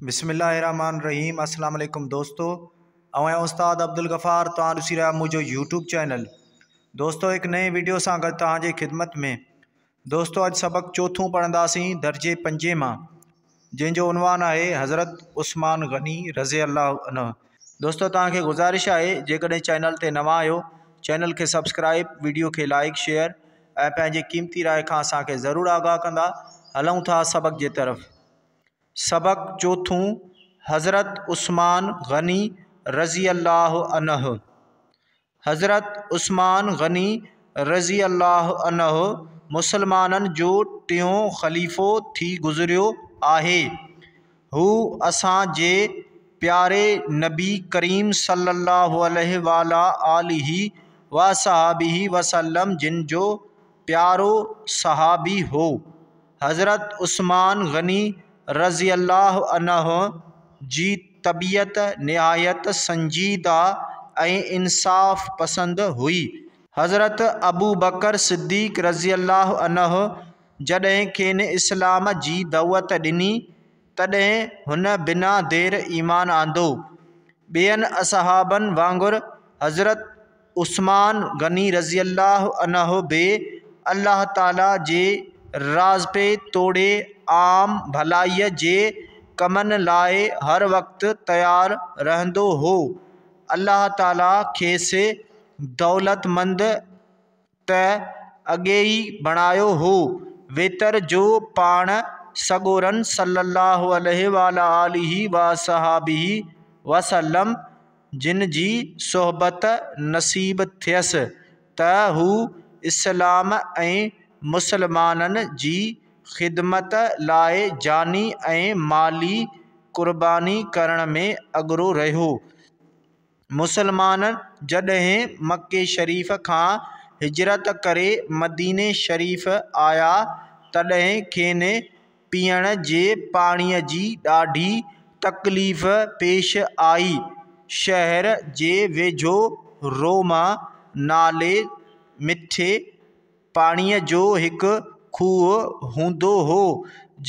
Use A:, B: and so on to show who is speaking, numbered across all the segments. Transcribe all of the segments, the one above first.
A: بسم الله الرحمن الرحيم اسلام عليڪم دوستو اوهين استاد عبدالغفار توهان ڏسي رهيا منهنجو يوٽيوب چينل دوستو هڪ نئين ويڊيو سان گڏ توهان جي خدمت ۾ دوستو اڄ سبق چوٿون پڙهنداسين درجي پنجين مان جنهن جو عنوان آهي حضرت عثمان غني رضي الله عنه دوستو توهان کي گذارش آهي جيڪڏهن چينل تي نوان آهيو چينل کي سبسڪرائب ويڊيو کي لائڪ شيئر ۽ پنهنجي قيمتي راء کان اسان کي ضرور آگاهه ڪندا هلون ٿا سبق جي طرف سبق چوٿون، حضرت عثمان غني رضي الله عنه، حضرت عثمان غني رضي الله عنه مسلمانن جو ٽيون خليفو ٿي گذريو آهي. هو اسان جي پياري نبي ڪريم صلي الله عليه وعلٰي آله وصحبه وسلم جن جو پيارو صحابي هو. حضرت عثمان غني رضي الله عنه جي طبيعت نهايت سنجيده ۽ انصاف پسند هئي. حضرت ابوبڪر صديق رضي الله عنه جڏهن کين اسلام جي دعوت ڏني، تڏهن هن بنا دير ايمان آندو. ٻين اصحابن وانگر حضرت. عثمان غني رضي الله عنه به الله تعاليٰ جي راضپي توڙي عام ڀلائيء جي ڪمن لاء هر وقت تيار رهندو هو. الله تعاليٰ کيس دولتمند، ته اڳي ئي بڻايو هو. وتر جو پاڻ سڳورن صلّي اللّٰه عليه وعلٰي آله واصحٰبه وسلّم جن جي صحبت نصيب ٿيس ته هو اسلام ۽ مسلمانن جي خدمت لاء جاني ۽ مالي قرباني ڪرڻ ۾ اڳرو رهيو. مسلمان جڏهن مڪي شريف کان هجرت ڪري مديني شريف آيا تڏهن کين پيئڻ جي پاڻيء جي ڏاڍي تڪليف پيش آئي شهر جي ويجهو روما نالي مٺي پاڻيء جو هڪ کوهه هوندو هو،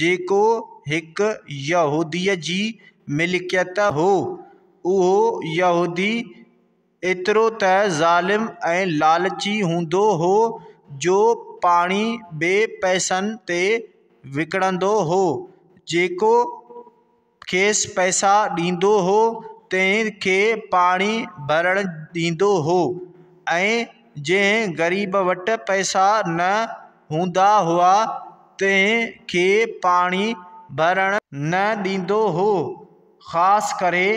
A: جيڪو هڪ يهوديء جي ملڪيت هو. اهو يهودي ايترو ته ظالم ۽ لالچي هوندو هو، جو پاڻي به پئسن تي وڪڻندو هو، جيڪو کيس پئسا ڏيندو هو تنهن کي پاڻي ڀرڻ ڏيندو هو ۽ جنهن غريب وٽ پئسا نه هوندا هئا تنهن کي پاڻي ڀرڻ نه ڏيندو هو خاص ڪري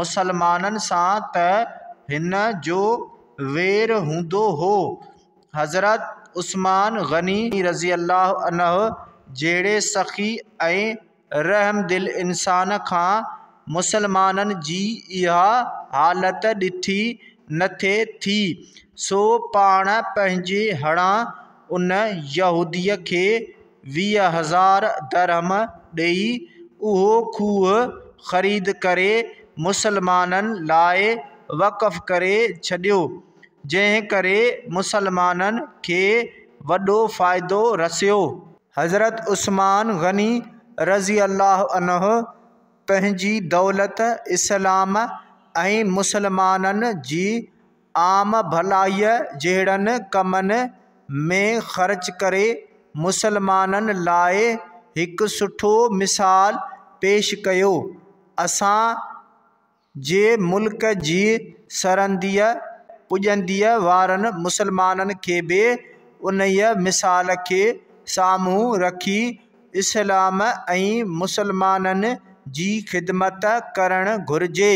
A: مسلمانن سان ته هن جو وير هوندو هو حضرت عثمان غني رضي الله عنه جهڙي سخي ۽ رحم دل انسان کان مسلمانن جي اها حالت ڏٺي نٿي ٿي، سو پاڻ پنهنجي هڙان ان يهوديء کي ويهه هزار درهم ڏيئي اهو کوهه خريد ڪري مسلمانن لاء وقف ڪري ڇڏيو، جنهن ڪري مسلمانن کي وڏو فائدو رسيو. حضرت عثمان غني رضي الله عنه پنهنجي دولت، اسلام ۽ مسلمانن جي عام ڀلائيء جهڙن ڪمن ۾ خرچ ڪري مسلمانن لاء هڪ سٺو مثال پيش ڪيو. اسان جي ملڪ جي سرنديء پڄنديء وارن مسلمانن کي به انهيء مثال کي سامهون رکي اسلام ۽ مسلمانن جي خدمت ڪرڻ گهرجي.